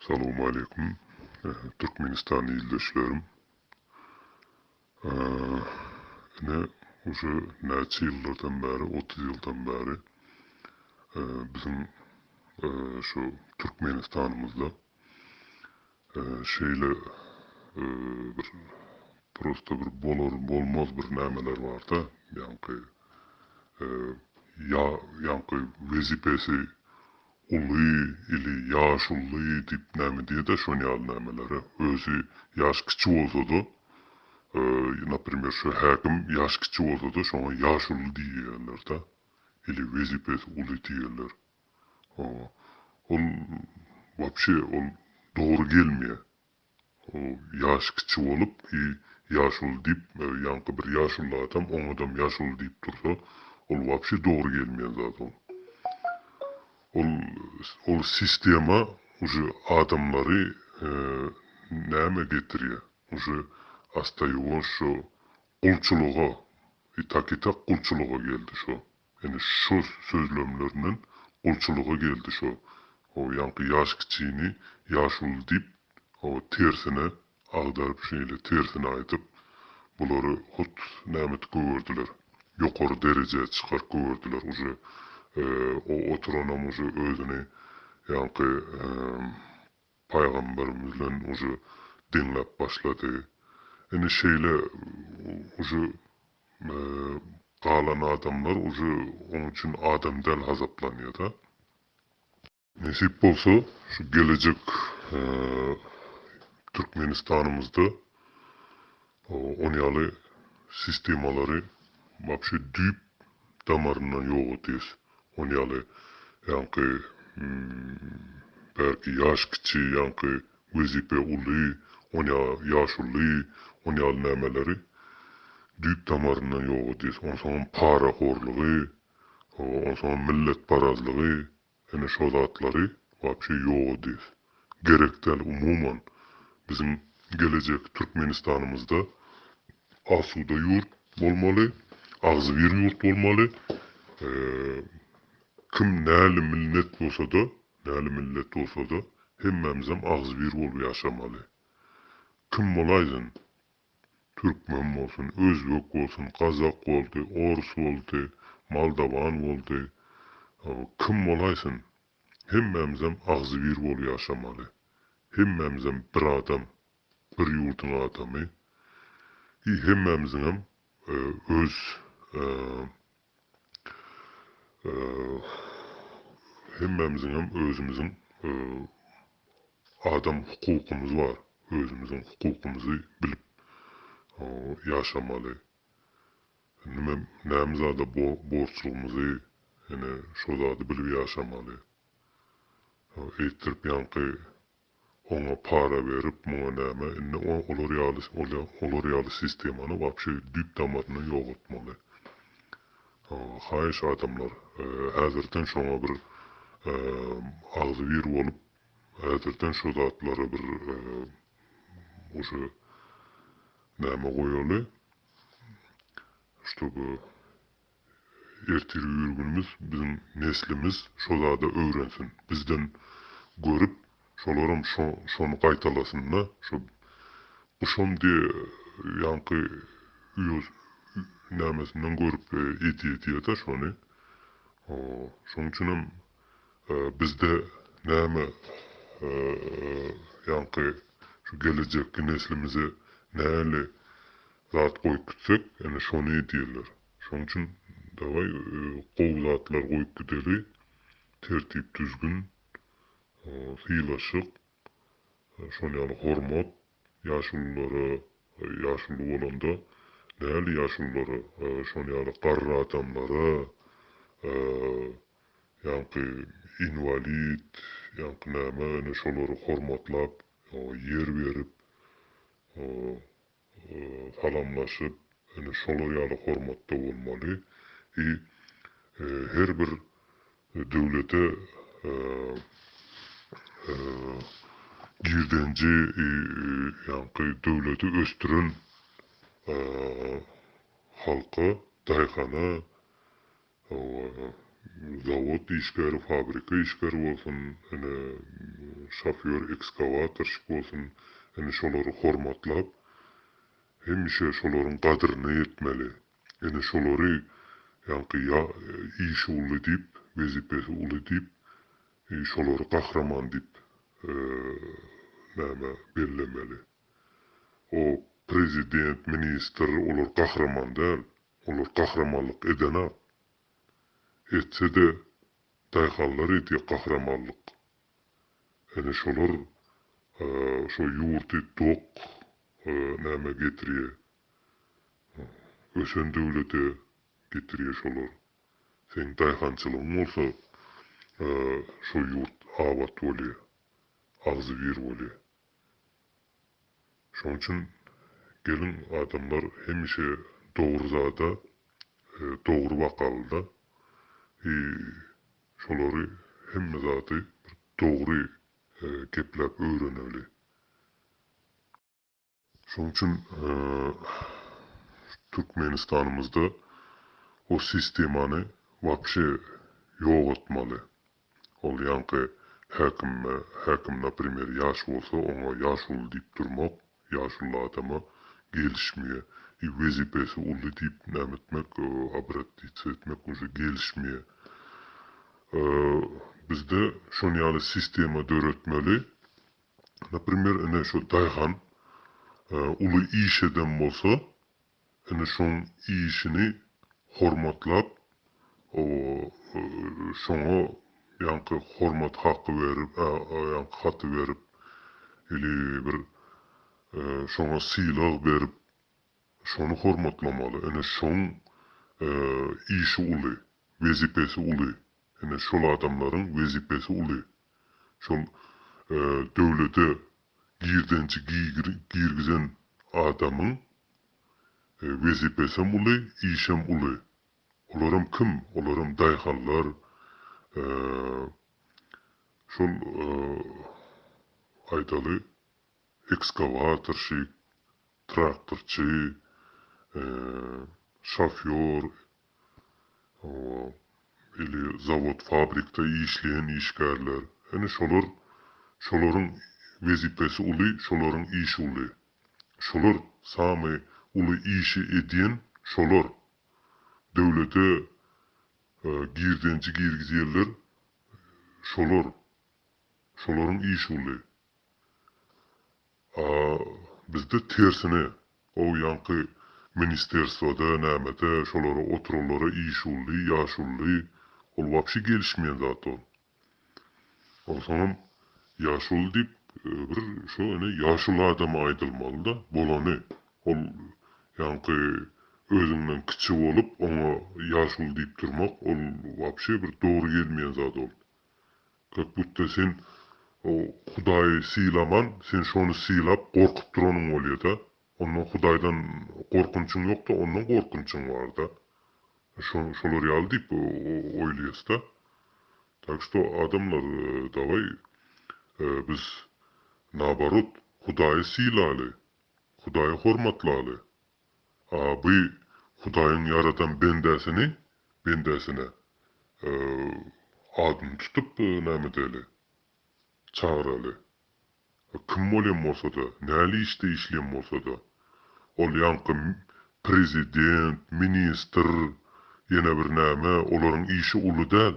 Salowmaleýkum Türkmenistan ildeşlerim. Ine uje näçe ýyllardan bäri otuz ýyldan bäri biziň şu Türkmenistanymyzda şeýle bir prosta bir bolar bolmaz bir nämeler barda ýaňky ýa ýaňky wezipesi Uly ili ýaşully diýip näme diýede şon ýaly nämelere özi ýaş kiçi bolsada naprimer şu häkim ýaş kiçi bolsada şoňa ýaşully diýýälerda ili wezipesi uly diýýäler ol wapşe ol dogry gelmeýä. Ýaşy kiçi bolup, ýaşuly diýip, ýaňky bir ýaşuly adam oňadam ýaşuly diýip dursa, ol wapşe dogry gelmeýän zat oň. Ol, ol sistema uje adamlary nämä getirýä, uje astaýuwaş şo gulçulyga, i tak-i tak gulçulyga geldi şo. Ýöne şo sözlemlerinden gulçulyga geldi şo o ýaňky ýaş kiçini ýaş uly diýip o tersine agdaryp şeýle tersine aýdyp bulary hut nämet gögerdiler ýokary derejä çykaryp gögerdiler uje o oturanam uje özüni ýaňky Paýgamberimizden uje diňläp başlady. Ine şeýle uje galan adamlar uje oň üçin adam däl hasaplanýada. Nesip bolsa şu gelejek Türkmenistanymyzda Ony ýaly sistemalary wapşe düýp damaryndan ýok edýäs. Ony ýaly ýaňky bärki ýaş kiçi, ýaňky wezipe uly, ony ýaly ýaş uly, ony ýaly nämeleri düýp damaryndan ýok edýäs. Onsoňam parahorlygy, onsoňam milletparazlygy Ine şo zatlary wapşe ýok edýs. Gerekdäl umuman. Biziň gelejek Türkmenistanymyzda asuda ýurt bolmaly, agzybir ýurt bolmaly. Kim näli milnet bolsada, näli millet bolsada hemmämizem agzybir bolup ýaşamaly. Kim bolaýsyn. Türkmen bolsun, özbek bolsun, gazak boldy, orus boldy, moldawan boldy, kim bolaýsyn, hemmämizem agzybir bolup ýaşamaly. Hemmämizem bir adam, bir ýurduň adamy. I hemmämiziňem öz Hemmämiziňem özümiziň adam hukukymyz bar. Özümiziň hukukymyzy bilip ýaşamaly. Nime näme zada borçlygymyzy, ine, şo zady bilip ýaşamaly. Eýtdirip ýaňky Oňa para berip, muňa näme, indi olar ýaly olar ýaly sistemany wapşe düýp damaryndan ýogaltmaly. Haýyş adamlar, häzirden şoňa bir agzybir bolup, häzirden şo zatlara bir uje näme goýaly, ştoby Ertirgi ýörgünimiz biziň neslimiz şo zada öwrensin. Bizden görüp şolaram şony gaýtalasynda şo guşam diýe ýaňky wios nämesinden görüp edýedýeda şony. Şoň üçinem bizde näme ýaňky şu gelejekki neslimize näli zat goýup gitsek ene şony edýärler şoň üçin daway gowy zatlar goýup gideli tertip düzgün sylaşyk şol ýaly hormat ýaşululara ýaşuly bolanda däli ýaşululara şol ýaly garry adamlara ýaňky inwalid ýaňky näme ene şolary hormatlap ýer berip salamlaşyp ine şolar ýaly hormatda bolmaly i her bir döwlete girdenji i ýaňky döwleti ösdüren halka daýhana zawod işgäri, fabrika işgäri bolsun, ine, şofýor, ekskawatorşik bolsun, ine, şolary hormatlap, hemişe şolaryň gadryna ýetmeli. Ine, şolary, ýaňky, ýa işi uly diýip, wezipesi uly diýip, şolary gahryman diýip, näme, bellemeli. O, prezident, ministr, olar gahryman däl. Olar gahramanlyk edenok. Etse-de, daýhanlar edýä gahramanlyk. Ene şolar şo ýurdy dok nämä getirýä. Ösen döwlete getirýä şolar. Seň daýhançylygyň bolsa şo ýurt abat bolýa. Agzybir bolýa. Şoň üçin geliň adamlar hemişe dogry zada dogry wakalyda i şolary hemme zady bir dogry gepläp öwreneli. Şoň üçin Türkmenistanymyzda o sistemany wapşe ýogatmaly. Ol ýaňky häkime, häkim naprimer ýaş bolsa oňa ýaşuly diýip durmak, ýaşuly adama gelişmeýe i wezipesi uly diýip näme etmek, obratitsa etmek uje gelişmeýe. Bizde şon ýaly sistema döretmeli. Naprimer ine şo daýhan uly iş eden bolsa Indi şoň işini hormatlap, oba, şoňa ýaňky hormat haky berip, ýaňky haty berip, ili bir şoňa sylag berip, şony hormatlamaly. Indi şoň işi uly, wezipesi uly. Ine şol adamlaryň wezipesi uly. Şol döwlete girdenji girgizen adamyň wezipesem uly, işem uly. Olaram kim? Olaram daýhanlar, şol aýdaly ekskowatorşik, traktorçy, şofýor, ili zawod-fabrikde işleýän işgärler, ine, şolar, şolaryň wezipesi uly, şolaryň işi uly. Şolar samy uly işi edýän şolar. Döwlete girdenji girgizýänler şolar. Şolaryň işi uly. A bizde tersine, ow ýaňky ministerswada nämede şolara oturanlara işully, ýaşully, ol wapşe gelişmeýän zat ol. Onsoňam ýaşuly diýip bir şo ine ýaşuly adama aýdylmalyda, bolany. Ol ýaňky özüňden kiçi bolup oňa ýaşuly diýip durmak ol wapşe bir dogry gelmeýän zat ol. Kakbudda sen o Hudaýy sylaman, sen şony sylap, gorkup duranyň bolýa-da. Ondan Hudaýdan gorkunçyň ýok-da, ondan gorkunçyň bar-da. Şo, şolar ýaly diýip oýlaýas-da. Tak što, adamlar, dawaý, biz, naoborot, Hudaýy sylaly, Hudaýy hormatlaly. By Hudaýyň ýaradan bendäsini, bendäsine, adyny tutup, näme edeli? Çagyraly. Kim bolýan bolsa-da, näli işde işleýän bolsa-da. Ol ýaňky prezident, ministr, ýene bir näme, olaryň işi uly däl.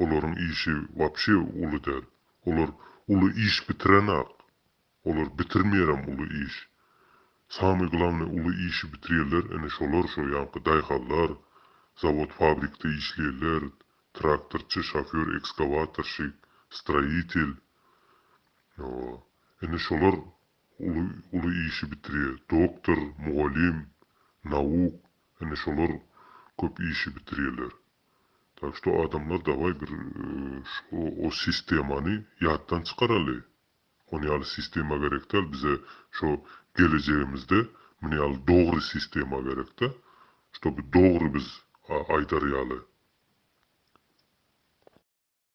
Olaryň işi wapşe uly däl. Olar uly iş bitiren-ak. Olar bitirmeýärem uly iş. Samy glawny uly işi bitirýärler ine şolar şo ýanky daýhanlar, zawod fabrikde işleýänler, traktorçy, şofýor, ekskawatorşik, stroýitel. Hawa. Ine şolar uly uly işi bitirýär. Doktor, mugallym, nauk ine şolar köp işi bitirýärler. Tak şto adamlar dawaý bir şo o sistemany ýatdan çykaraly. Ony ýaly sistema gerek däl bize şo gelejegimizde muny ýaly dogry sistema gerekde ştoby dogry biz aýdar ýaly.